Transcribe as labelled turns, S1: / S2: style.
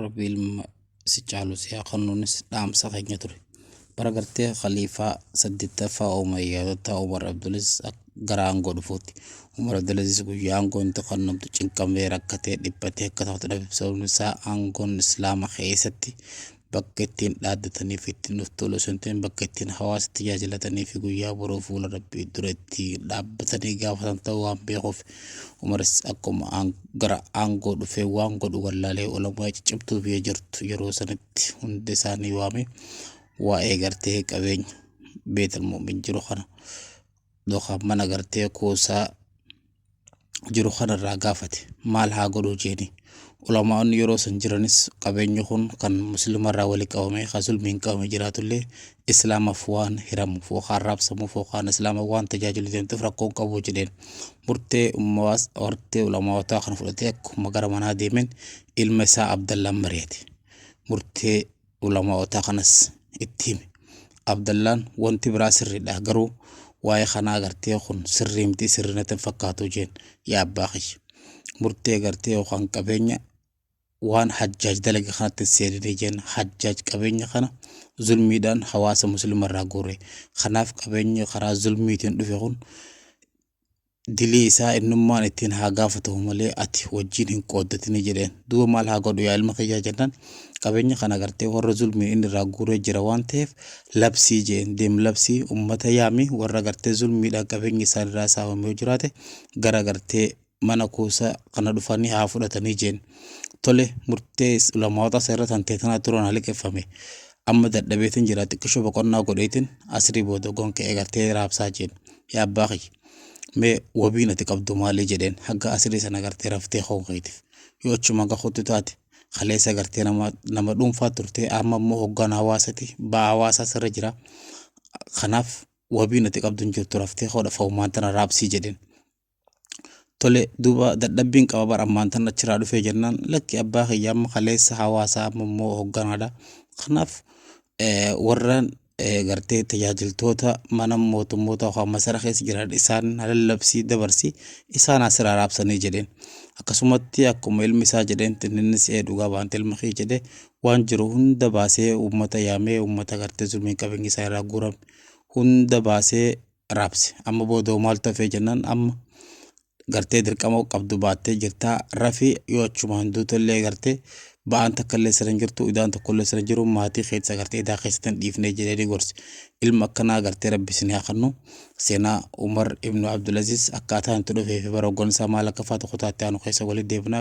S1: rabbi ilma si caalu si haa kennuunis dhaamsa keenya ture. Bara gartee khaliifaa saddeettaffaa Umar yaadataa Umar Abdulaziz akka gara aangoo dhufuutti. Umar Abdulaziz guyyaa aangoon itti kennamtu cinqamee rakkatee dhiphatee akka taatu dhabe sababni isaa aangoon islaama keessatti bakka ittiin dhaaddatanii fi ittiin of tolu osoo hin ta'in bakka ittiin hawaasa tajaajilatanii fi guyyaa boruu fuula rabbii duratti dhaabbatanii gaafatan ta'uu waan beekuuf umaris akkuma aan- gara aangoo dhufee waan godhu wallaalee olamaa ciccimtuu biyya jirtu yeroo sanitti hunda isaanii waamee waa'ee gartee qabeenya beetal mu'min jiru kana yookaan mana gartee kuusaa jiru kanarraa gaafate maal haa godhu jeeni ulamaa'onni yeroo san jiranis qabeenyi kun kan muslimarraa wali qabame kan sulmiin qabame jiraatullee islaamaaf waan hiramuuf yookaan raabsamuuf yookaan islaama waan tajaajilu deemtuuf rakkoon qabu jedheen murtee ummaas hortee ulamaa'otaa kana fudhatee akkuma gara manaa deemeen ilma isaa abdallaan mari'ate murtee ulama'ootaa kanas itti hime abdallaan wanti biraa sirriidha garuu waa'ee kanaa gartee kun sirrii miti sirrii natti hin fakkaatu jeen yaa abbaa kiyya murtee gartee yookaan qabeenya waan hajjaaj dalage kanatti hin seeninii jeen hajjaaj qabeenya kana zulmiidhaan hawaasa musliima irraa guure kanaaf qabeenyi karaa zulmiitiin dhufe kun dilii isaa innummaan ittiin haa gaafatamu malee ati wajjin hin qooddatini jedheen. Duuba maal haa godhu yaa ilma kiyyaa jennaan qabeenya kana gartee warra zulmiin inni irraa guuree jira waan ta'eef labsii jeen deem labsii ummata yaami warra gartee zulmiidhaan qabeenyi isaan irraa saamame yoo jiraate gara gartee mana kuusa kana dhufanii haa fudhatanii jeen. Tole murtee ulamaawota seera tan teetanaa turan haliqeffame. Amma dadhabeetin jira xiqqishoo boqonnaa godheetin asrii booda gonka eegartee raabsaa jeen. Yaa abbaa kiyya. mee wabiin ati qabdu maali jedheen hagga asirii sana gartee raftee koo keetiif yoo achuma gahuutti taate kaleessa gartee nama nama dhuunfaa turtee amma immoo hoggaan hawaasati ba'aa hawaasaa sirra jira kanaaf wabiin ati qabdu hin jirtu raftee koodha fa'umaan tana raabsii jedheen. Tole duuba dadhabbiin qaba bara ammaan tana achiraa dhufee jennaan lakki abbaa kiyya amma kaleessa hawaasaa amma immoo hogganaadha kanaaf eh, warraan gartee tajaajiltoota mana mootummoota yookaan masara keessa jiran isaan lallabsii dabarsi isaan asiraa raabsanii jedheen akkasumatti akkuma ilmi isaa jedheen innis ee dhugaa baante ilma kee jedhe waan jiru hunda baasee uummata yaamee uummata gartee zulmiin qabeenyi isaa irraa guurame hunda baasee raabse amma boodoo maal tafee jennaan amma gartee dirqama qabdu baattee jirta rafi yoo achumaan duutollee gartee ba'aan takkallee sirra hin jirtu idaan tokkollee sirra jiru maatii keessa gartee idaa keessatti hin dhiifnee jedhee gorsi ilma akkanaa gartee rabbi isin haa kennu seenaa umar ibnu abdulaziz akkaataa itti dhufee fi bara hoggansaa maal akka faatu kutaatti aanu keessa walitti deebina